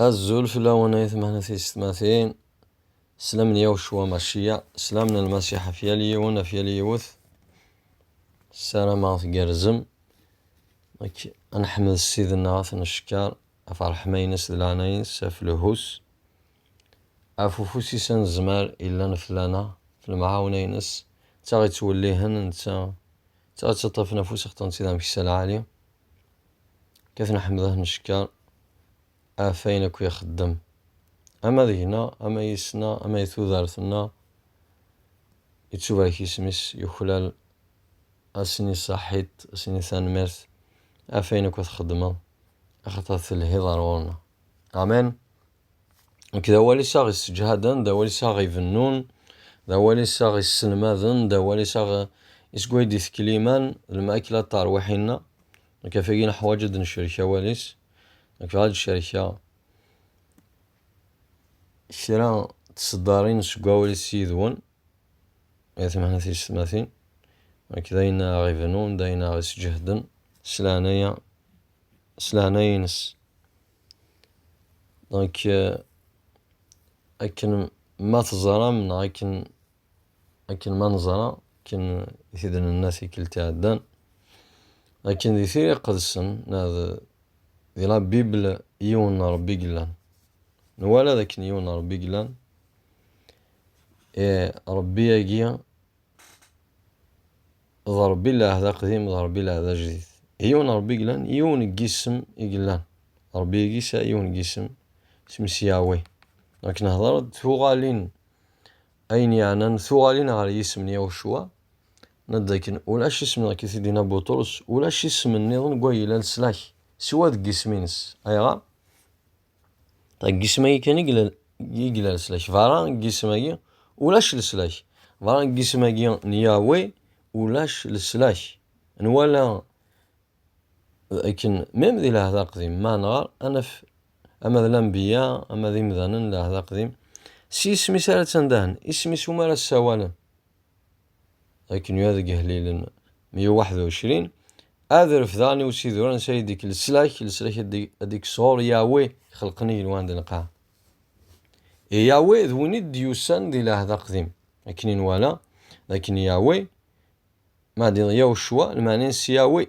Azul fell-awen ay tmehna tiyessetmatin, sslam n Yawecwa Macciya, sslam n Lmasiḥ ɣef yal yiwen, ɣef yal yiwet. Ssarameɣ tgerrzem. Nekk ad neḥmed Ssid-nneɣ, ad t-neckeṛ ɣef ṛṛeḥma-ines d leɛnaya-ines, ɣef lehhu-s, ɣef ufus-is anezmar yellan fell-aneɣ, ɣef lemɛawna-ines, netta ɣ-ittwellihen, netta ɣ-ittaṭṭafen afus ɣ-ṭṭen-tt-id ameksa lɛali. Kkten aḥemdah n cekkeṛ ɣef ayen akk i ixeddem, ama deg-neɣ, ama yis-neɣ, ama di tudert-nneɣ, yettubarek yisem-is, yuklal, ad s-nini saḥit, ad s-nini tanemmirt ɣef ayen akk i txeddmeḍ, axaṭer telhiḍ ɣer ɣur-neɣ. Amen! Nekk d awal-is aɣ isseǧhaden, d awal-is aɣ ibennun, d awal-is aɣ isselmaden, d awal-is aɣ isegwa ay d-itekkel iman, d lmakla d tarwiḥin-a. Nekk ɣef wagi neḥwaj ad d-necrek awal-is. Nekk bɣiɣ ad d-cerkeɣ kra n tseddarin seg wawal-is yid-wen, ay at Mhenni Tiyessetmatin. Nekk d ayen aɣ ibennun, d ayen aɣ isseǧhaden, s leɛnaya, s leɛnaya-nnes. Donc, euh, akken ma teẓram neɣ akken akken ma neẓra akken i t-id-nenna tikkelt iɛeddan akken di tira iqedsen neɣ di la bibl yiwen n rebbi yellan nwala d akken yiwen n rebbi yellan e rebbi-agi d Ṛebbi n lɛehd aqdim d Ṛebbi n lɛehd ajdid. Yiwen n Ṛebbi i yellan, yiwen n yisem i yellan. Ṛebbi-agi yesɛa yiwen n yisem, isem-is Yahweh. Akken nhedṛeḍ tuɣalin, ayen yeɛnan tuɣalin ɣer yisem n Yahucua, nadi akken ulac isem nneɣ i t-id-yenna Buṭrus, ulac isem nniḍen deg wayla n leslak, siwa deg yisem-ines. Ayɣer? Deg yisem-agi kan i yella leslak. Berra n yisem-agi, ulac leslak. Berra n yisem-agi n Yahweh, ulac leslak. Nwala akken, mem di lɛehd aqdim, ma nɣer, ad naf ama d lanbiya, ama d imdanen n lɛehd aqdim, s yisem-is ara ttandahen, isem-is umi ara ssawalen. akken yuha deg Ihellilen 121, Ad refdeɣ i usidur ansi ay d-ikk leslak, leslak ad d-ikk sɣur Yahweh ixelqen igenwan d lqaɛ. I Yahweh d win i d-yusan di Lɛehd Aqdim, akken i nwala, d akken Yahweh, ma d Yahucwa, lmeɛna-nnes Yahweh.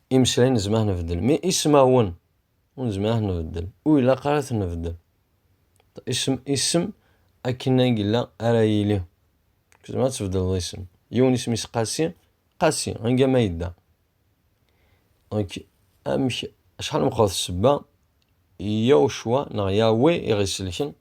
Imeslay nezmer ad nbeddel, mais ismawen ur nezmer ad t-nbeddel, ur ilaq ara ad t-nbeddel. Isem, isem akken ay yella ara yili. Tzemreḍ ad tbeddleḍ isem. Yiwen isem-is Qasi, Qasi, anga ma yedda. Donc, amek, acḥal meqqret ssebba, Yaw Cwa, neɣ Yawe i ɣ-isselken,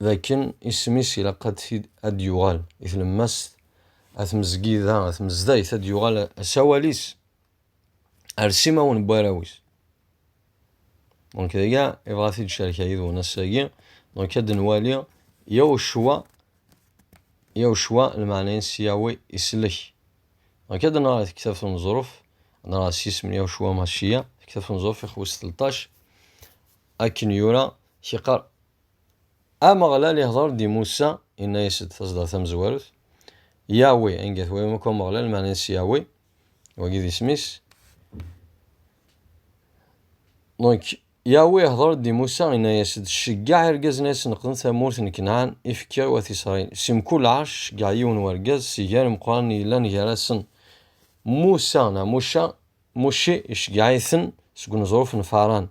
dakken isem-is ilaq ad ad d-yuɣal i tlemmast, a tmezgida, a tmezdayt, ad d-yuɣal asawal-is ar simawen n warraw-is. Donc dagi ibɣa ad t-id-cerkeɣ yid-wen ass-agi, donc ad nwali yaw ccwa, yaw ccwa lmeɛna-ines Yahweh islek. Donc ad nɣer tektabt n Neẓruf, ad nɣer s yisem n yaw ccwa Maciya, tektabt n Neẓruf ixwes 13, akken yura Kiqar. Ameɣlal ihḍer-d i Musa, inna-yas-d taẓdar tamezwarut, Yawi, anga twayam akk Ameɣlal, meɛna-s Yawi, wagi d isem-is. Donc, Yawi ihḍer-d i Musa, inna-yas-d, Ceggaɛ irgazen ad senqden tamurt n Kenɛan, i fkiɣ i wat Isṛayil. Si mkul ɛecc, ceggaɛ yiwen wergaz, si gar imeqqranen yellan gar-asen. Musa, neɣ Muca, Mucci, iceggeɛ-iten seg uneẓruf n Faran.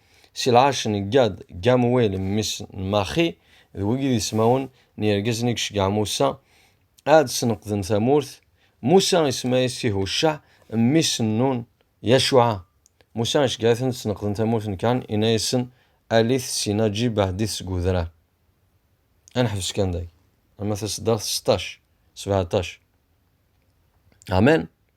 Si lɛerc n Gad, Gamuwil mmi-s n Maxi, d wigi d ismawen n yergazen i iceggeɛ Musa ad sneqden tamurt. Musa isemma-yas i Hucceɛ, mmi-s n Nun, Yacuɛa. Musa iceggeɛ-iten ad sneqden tamurt n Kan, inna-yasen, Alit syin aǧib ɛeddit seg udrar. Ad neḥbes kan dagi, ama taseddart seṭṭac, sebɛeṭṭac. Amen.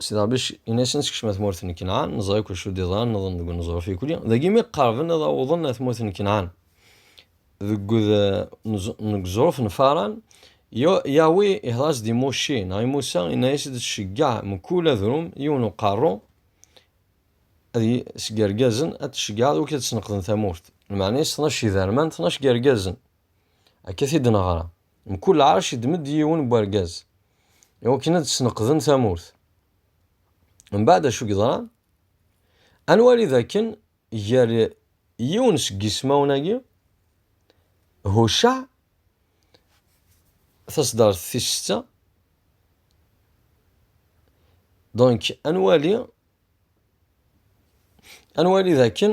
Sidi Ṛebbi in-asen, Skecmem at murt n Kenɛan, neẓra akk acu d-iḍran, nḍen deg uneẓruf ikuli. Dagi mi qerben ad awḍen at murt n Kenɛan, deg uneẓruf n Faran, Yahweh ihder-as-d i Mucci, neɣ i Musa, inna-as-d, Ceggeɛ mkul adrum yiwen uqerru, ad seg irgazen ad t-tceggɛeḍ wik ad sneqden tamurt. Lmeɛna-is tnac iderman, tnac n yirgazen. Akka t-id-neɣra. Mkul ɛerc iddem-d yiwen n wergaz i wakken ad d-sneqden tamurt. Mbeɛd acu i yeḍran? Ad nwali dakken gar yiwen seg yismawen-agi, Hucceɛ, taṣeddart tis setta, donc ad nwali ad nwali dakken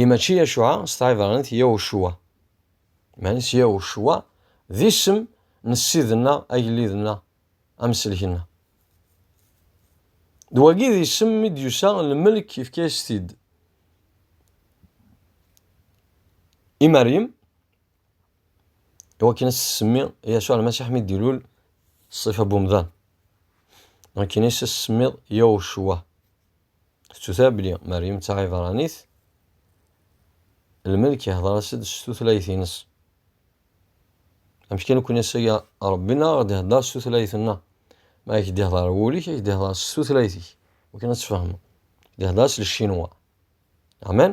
I mačči Yacuɛa s tɛibranit Yahucua. Meɛna-s Yahucua d isem n Ssid-nneɣ, Agellid-nneɣ, Amsellek-nneɣ. D wagi d isem mi d-yusa lmelk yefka-yas-t-id i Meryem i wakken ad s-tsemmi Yacuɛ Lmasiḥ mi d-ilul ṣṣifa n umdan. Akken i s-semmiḍ Yahucua. Tettuta belli Meryem d taɛibṛanit, lmelk ihdeṛ-as-d s tutlayt-ines. Amek kan nekkni ass-agi Ṛebbi neɣ aɣ-d-ihdeṛ s tutlayt-nneɣ. Ma ak-d-ihdeṛ i wul-ik, ak-d-ihdeṛ s tutlayt-ik, akken ad tfehmeḍ. Ak-d-ihdeṛ s lcinwa. Amen?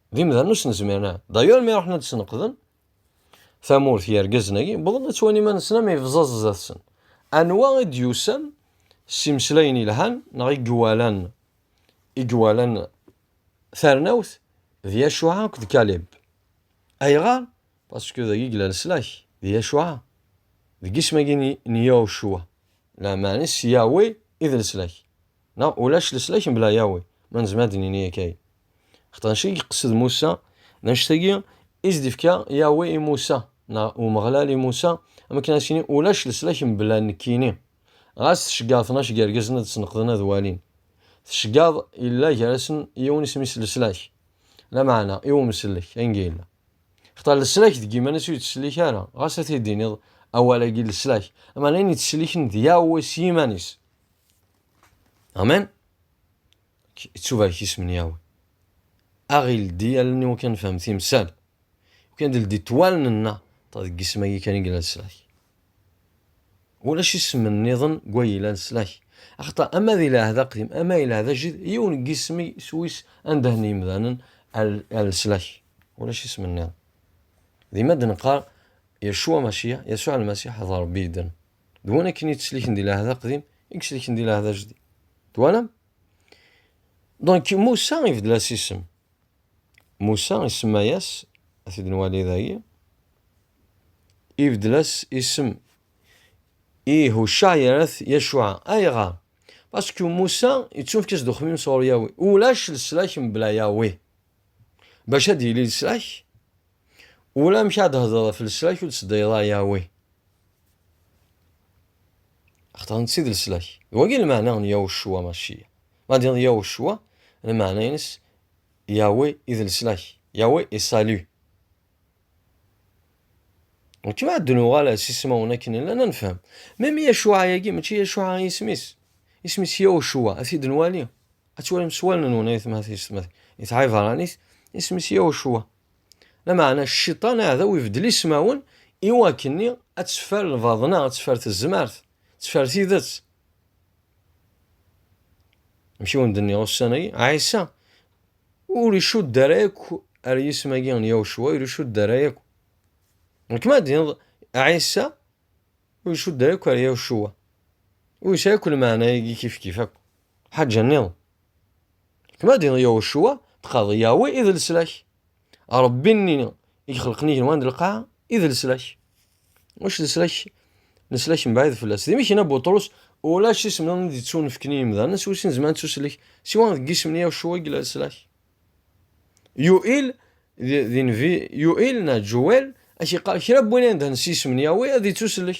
d imdanen ur sen-zmiren ara d'ailleurs mi ruḥen ad d-sneqden tamurt yergazen-agi wwḍen ad ttwalin iman-nsen am ibẓaẓ zdat-sen anwa i d-yusan s imeslayen yelhan neɣ i iwalan i iwalan tarnawt d Yacuɛa akked Kalib ayɣer pasku dagi yella leslak d Yacuɛa deg isem-agi n Yacuɛa lameɛna s Yawe i d leslak Neɣ ulac leslak mebla Yahweh, ma nezmer ad d-nini yakay. Xaṭer anect i yeqsed Musa, d anect-agi i s-d-ifka Yahweh i Musa, neɣ Umeɣlal i Musa, am wakken ad as-yini ulac leslak mebla nekkini. Ɣas tceggaḍ tnac n yergazen ad sneqden ad walin. Tceggaḍ yella gar-asen yiwen isem-is leslak, lameɛna i umsellek, ayen ga yella. Xaṭer leslak deg yiman-is ur yettsellik ara, ɣas ad t-id-tiniḍ awal-agi leslak, lameɛna ayen yettselliken d Yahweh s yiman-is. Amen Ittubarek isem n Yahweh. Aɣ ildi allen-iw kan nefhem timsal. Kan ldi ṭwalen-nneɣ deg isem-agi kan i yellan slak. Ulac isem nniḍen n way yellan slak. Axaṭer ama di lɛehd aqdim ama i lɛehd ajdid yiwen n yisem s wis anda n yimdanen al slak. Ulac isem nniḍen. Dima d-neqqar Yeshua Mashiach, Yasuɛ Lmasiḥ d Rebbi yedden. D win akken yettselken di lɛehd aqdim i yettselken di lɛehd ajdid. Twalam? Donc Moussa ibdel as isem. Moussa isemma-yas, ad t-id nwali dagi, ibdel as isem i Hucca yerra-t Yacuɛa. Ayɣer? Parce que Moussa yettunefk-as-d uxemmim sɣur Yahweh. Ulac leslak mebla Yahweh. Bac ad yili leslak, ulamek ad hedreḍ ɣef leslak ur d-teddayeḍ ara Yahweh. Axaṭer netta i d leslak. D wagi lmeɛna n Yahucua Maciya. Ma d iḍ Yahucua, lmeɛna-ines Yahweh i d leslak. Yahweh est salut. Nekk ma ad nuɣal s ismawen akken llan ad nefhem. Même Yacuɛa-agi, mačči Yacuɛa i isem-is. Isem-is Yahucua, ad t-id-nwali. ad twalim s wallen-nwen ayetma-s iɛibṛanit isem-is Yawcuwa. Lameɛna cciṭan aɛdaw ibeddel ismawen i wakken-nni ad teffer lbaḍna, ad teffer tezmert, ad teffer tidet. Amek i wen-d-nniɣ ussan-agi, Ɛisa ur icudd ara akk ar yisem-agi n Yawcuwa, ur icudd ara akk. Nekem ad d-tiniḍ Ɛisa ur icudd ara akk ar Yawcuwa. Ur yesɛi akk lmeɛna-agi kifkif akk. Ḥaǧa-nniḍen, kma d Yahucua, tqaḍ Yahweh i d leslak. Ṛebbi-nni i ixelqen igenwan d lqaɛa i d leslak. Ulac leslak, leslak mebɛid fell-as. D imiken a Buṭrus, ulac isem-nniḍen i d-ittunefken i yimdanen s wis-sin zemren ad ttuselek, siwa deg yisem n Yahucua i yella leslak. Yuil, d, d invi, Yuil neɣ Ǧuwel, ak-iqqar, kra n win i nedhen s yisem n Yahweh ad ittuselek.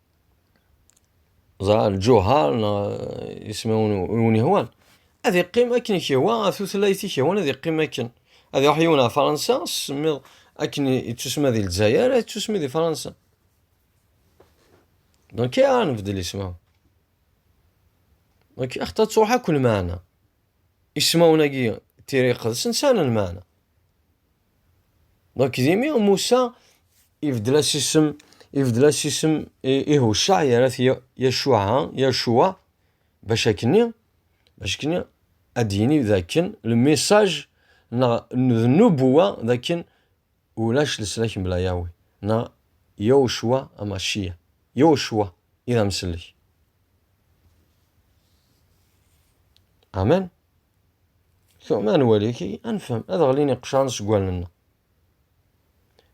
ẓra lǧuher neɣ ismawen wen ihwan ad iqqim akken i k-ihwa ɣef tutlayt i k-ihwan ad iqqim akken ad iruḥ yiwen ɣer Fransa semmiḍ akken ittusma di Lezzayer ad ittusmi di Fransa donc i ara nbeddel ismawen donc axaṭer ttruḥ akk lmeɛna ismawen-agi tiriqet-nsen sɛan lmeɛna Donc, dimi Moussa, ibdel-as isem, ibdel-as isem i Hushaɛ, yerra-t Yacuɛa, Yacuwa, bac akkenni, bac akkenni ad d-yini d akken le message neɣ d nubuwa d akken ulac leslak mebla Yawe, neɣ Yacuwa Amaciya, Yacuwa i d amsellek. Amen. Tuɣma n waliki ad nefhem ad ɣlin iqcaren seg wallen-nneɣ.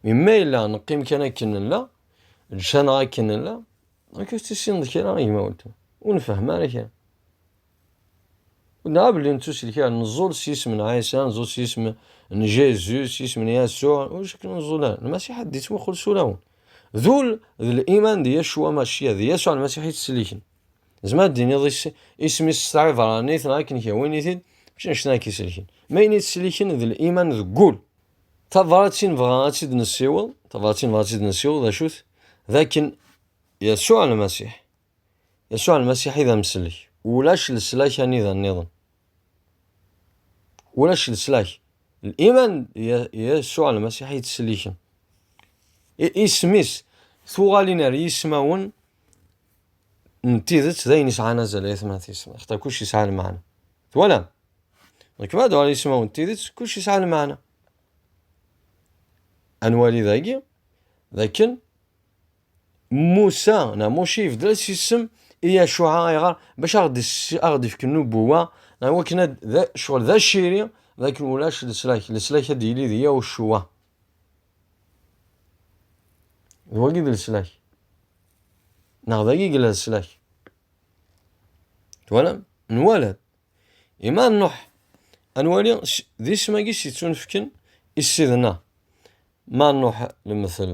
Mi ma yella neqqim kan akken nella, ǧǧan-aɣ akken nella, amek ur tissineḍ kra a gma weltma? Ur nefhem ara kra. Ur nɛab belli nettusil kra, neẓẓul s yisem n Ɛisa, neẓẓul s yisem n Jezu, s yisem n Yasuɛ, ur zik neẓẓul ara. Lmasiḥ ad d-yettmuqul s ulawen. D ul d liman d Yasuɛ Maciya, d Yasuɛ Lmasiḥ yettselliken. Zemmer ad d-tiniḍ isem-is s taɛibranit neɣ akken kra win-it-id, mačči anect-a akka iselken. Ma ayen i tesliken d liman deg wul. Tabrat i nebɣa ad tt-id-nessiweḍ, tabrat i nebɣa ad tt-id-nessiweḍ d acu-t? D akken Yasuɛ Lmasiḥ, Yasuɛ Lmasiḥ i d amsellek, ulac leslak anida nniḍen. Ulac leslak. Liman Yasuɛ Lmasiḥ i tesliken. Isem-is, tuɣalin ar yismawen n tidet d ayen yesɛan azal ay atmaten yesɛan axaṭer kullec yesɛa lmeɛna twalam nek ma dɛu ismawen n tidet kullec yesɛa lmeɛna ad nwali dagi d akken Musa neɣ Muci yebdel-as isem i Yacuɛa ayɣer bac ad ɣ-d-ifk nnubuwa neɣ wakken ad ccɣel d aciri d akken ulac leslak leslak ad d-yili d Yacuɛa d wagi d leslak Neɣ dagi i yella leslak. Twalam? Nwala-d. Ima nruḥ ad nwali d isem-agi s yettunefken i ssid-nneɣ. Ma nruḥ lemtel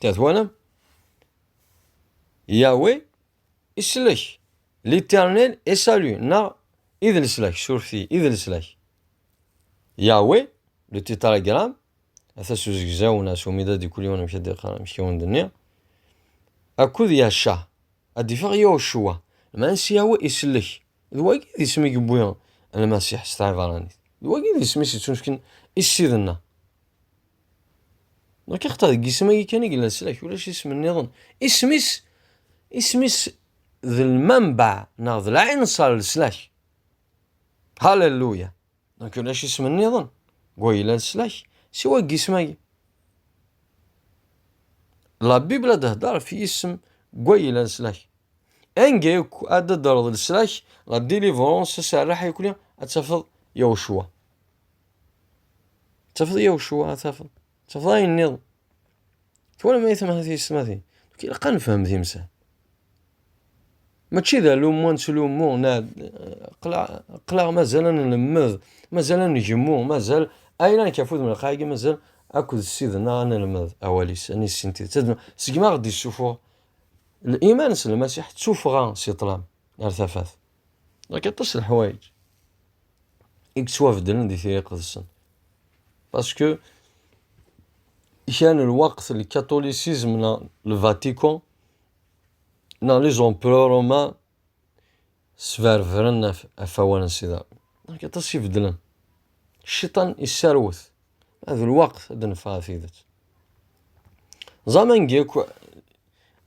Te twalam? Yahweh islek. L'éternel est salut. Neɣ i d leslak, surti, i d leslak. Yahweh, le tétragramme, ata s uzegzaw neɣ s umida di kul yiwen amek ad d-iqar, amek i wen-d-nniɣ, akud Yahcah, ad d-ifeɣ Yahucua, lmeɛna s Yahweh islek, D wagi i d isem i yewwi Lmasiḥ s tɛibṛanit. D wagi i d isem i s-ittunefken i Ssid-nneɣ. Nekk axaṭer deg yisem-agi kan i yella leslak, ulac isem nniḍen. Isem-is, isem-is d lmanbeɛ neɣ d lɛinṣer n leslak. Halleluya! Donc la isem niḍen wa yella leslak siwa deg yisem-agi. La Bible ad d-hder ɣef yisem wa yella leslak. Anga yakk ad d-hdereḍ leslak la délivrance aserreḥ yakuli ad tafeḍ Yahucua. Tafeḍ Yahucua ad tafeḍ. Tafeḍ ayen niḍen. Twala ma yetma ti yesmatin. Donc ilaq ad nefhem timsal. Mačči d alummu ad nettlummu, qleɣ mazal ad nlemmed, mazal ad ngemmu, mazal ayla nekk afud melqaɛ agi mazal akked ssid-nneɣ ad nelmed awal-is, ad nissin tidet. Segmi aɣ-d-issuffuɣ l-iman s Lmasiḥ, d tuffɣa si ṭṭlam ar tafat. Yak aṭas n leḥwayeǧ i yettwabeddlen di tira iqedsen. Paske kra n lweqt lkatulisizm neɣ lvatiko neɣ les empereurs romains sberbren ɣef awal n Sida. Yak aṭas i beddlen. Cciṭan isserwet. D lweqt ad d-neffeɣ ɣer tidet. Ẓam angi akk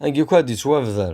angi akk ad d-yettwabder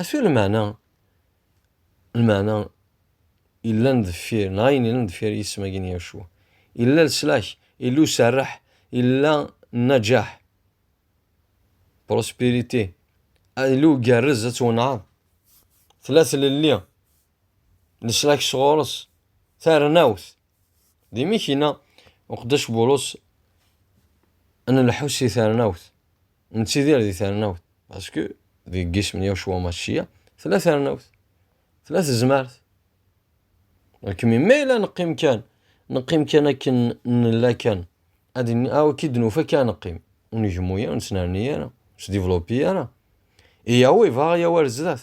Acu lmeɛna? Lmeɛna, yellan deffir, neɣ ayen yellan deffir yisem-agi n Yacua. Yella leslak, yella userreḥ, yella nnaǧaḥ, prospirité, yella ugerrez ad twenɛeḍ, tella tlelli, leslak sɣur-s, tarnawt, Di Mikina, uqeddac Bulus ad nelḥu si ternawt, nettidir di ternawt, basku deg yisem n Yacwa Maččiya, tella ternawt, tella tezmert. Lekmi, ma yella neqqim kan, neqqim kan akken nella kan, ad awki ah, d-nufa kan neqqim, ur negmu ara, ur nettnerni ara, ur s-divlopi ara. Iyaw ibaɣ yaw ar zdat.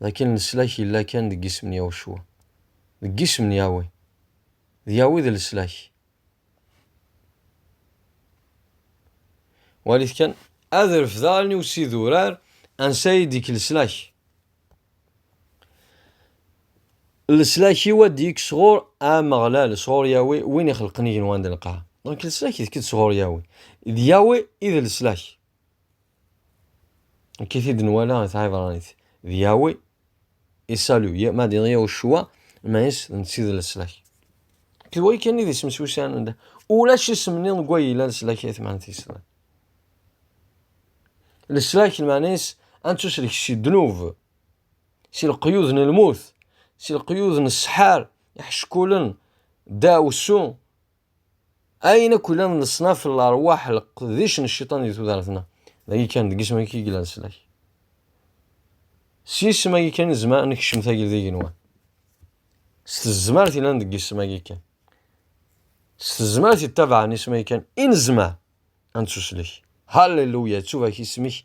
d akken leslak yella kan deg yisem n Yahucua, deg yisem n Yahweh. D Yahweh d leslak. Walit kan, ad refdeɣ allen-iw s idurar, ansa ay d-yekk leslak. Leslak-iw ad d-yekk sɣur Ameɣlal, sɣur Yahweh, win ixelqen igenwan d lqaɛa. Donc leslak d-yekk sɣur Yahweh. D Yahweh i d leslak. Akka i t-id-nwala i tɛibranit. D Yahweh i salu, ma d Yahushua, ma is d nsi d leslak. D way kan i d isem-is usan anda. Ulac isem-nni deg way yella leslak ay tmanit yeslan. Leslak lmanis ad nettuslek si ddnub, si leqyud n lmut, si leqyud n ssḥar, iḥeckulen, ddaɛwessu, Ayen akk ilan leṣnaf n lerwaḥ leqdic n cciṭan di tudert-nneɣ. Dagi kan, deg isem-agi kan i yella leslak. S yisem-agi kan i nezmer ad nekcem tagi d igenwan. S tezmert ilan deg isem-agi kan. S tezmert yettabaɛen isem-agi kan i nezmer ad nettuslek. Halleluya, yettubak isem-ik,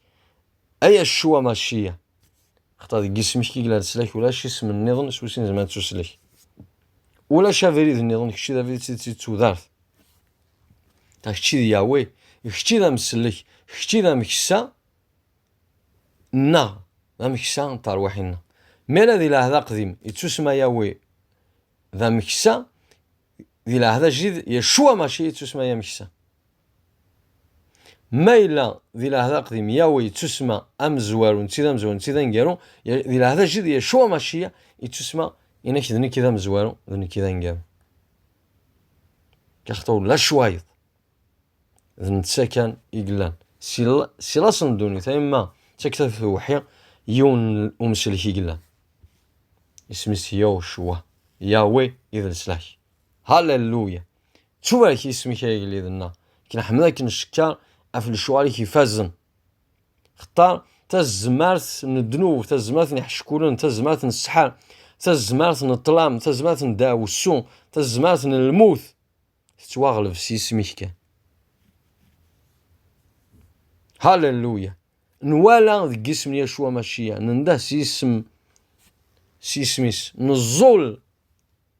ay Yeccuwa Maciya. Xaṭer deg yisem-ik i yella leslak, ulac isem nniḍen s wis nezmer ad tuslek. Ulac abrid nniḍen, kečč d abrid s d tudart. Ta kečč d Yahweh, kečč d amsellek, kečč d ameksa nneɣ, d ameksa n terwiḥin-nneɣ. Mi ara di lɛehd aqdim yettusma Yahweh d ameksa, di lɛehd ajdid Yecwa mačči yettusma ameksa. Ma yella di lɛehd aqdim Yahweh yettusma amezwaru, netti d amezwaru, netti d aneggaru, di lɛehd ajdid Yecua Maciya yettusma inek d nekk i d amezwaru, d nekk i d aneggaru. Car taw lac wayeḍ. D netta kan i yellan. Si laṣ n ddunit, ay ma d takta tewḥi, yiwen n umselek i yellan. Isem-is Yahweh, Yahweh i d leslak. Halleluya! Ttubrak ismek ay agellid-nneɣ, k-nḥemmel akken ncekker af lecɣal-ik ifazen. Xtar tazmart n ddnub, tazmart n iḥeckulen, tazmart n ssḥar, tazmart n ṭṭlam, tazmart n ddaɛwessu, tazmart n lmut. Tettwaɣleb s isem-ik kan. Halleluya! Nwala deg isem n Yacua Maciya, nenda s isem s isem-is, neẓẓul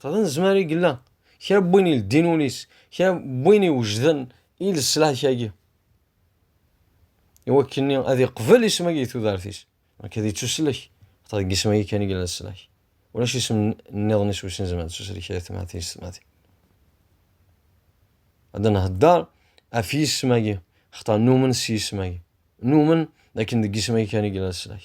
Xḍan zmer i yella kra n win ileddin ul-is, kra n win iwejden i leslak-agi, iwakken-nni ad iqbel isem-agi di tudert-is, amek ad ittuslek, xaṭer deg isem-agi kan i yella leslak, ulac isem nniḍen-is wis nezmer ad ittuslek i atmaten-is tetmatin. Ad nhedder af yisem-agi, xaṭer numen s yisem-agi, numen dakken deg yisem-agi kan i yella leslak.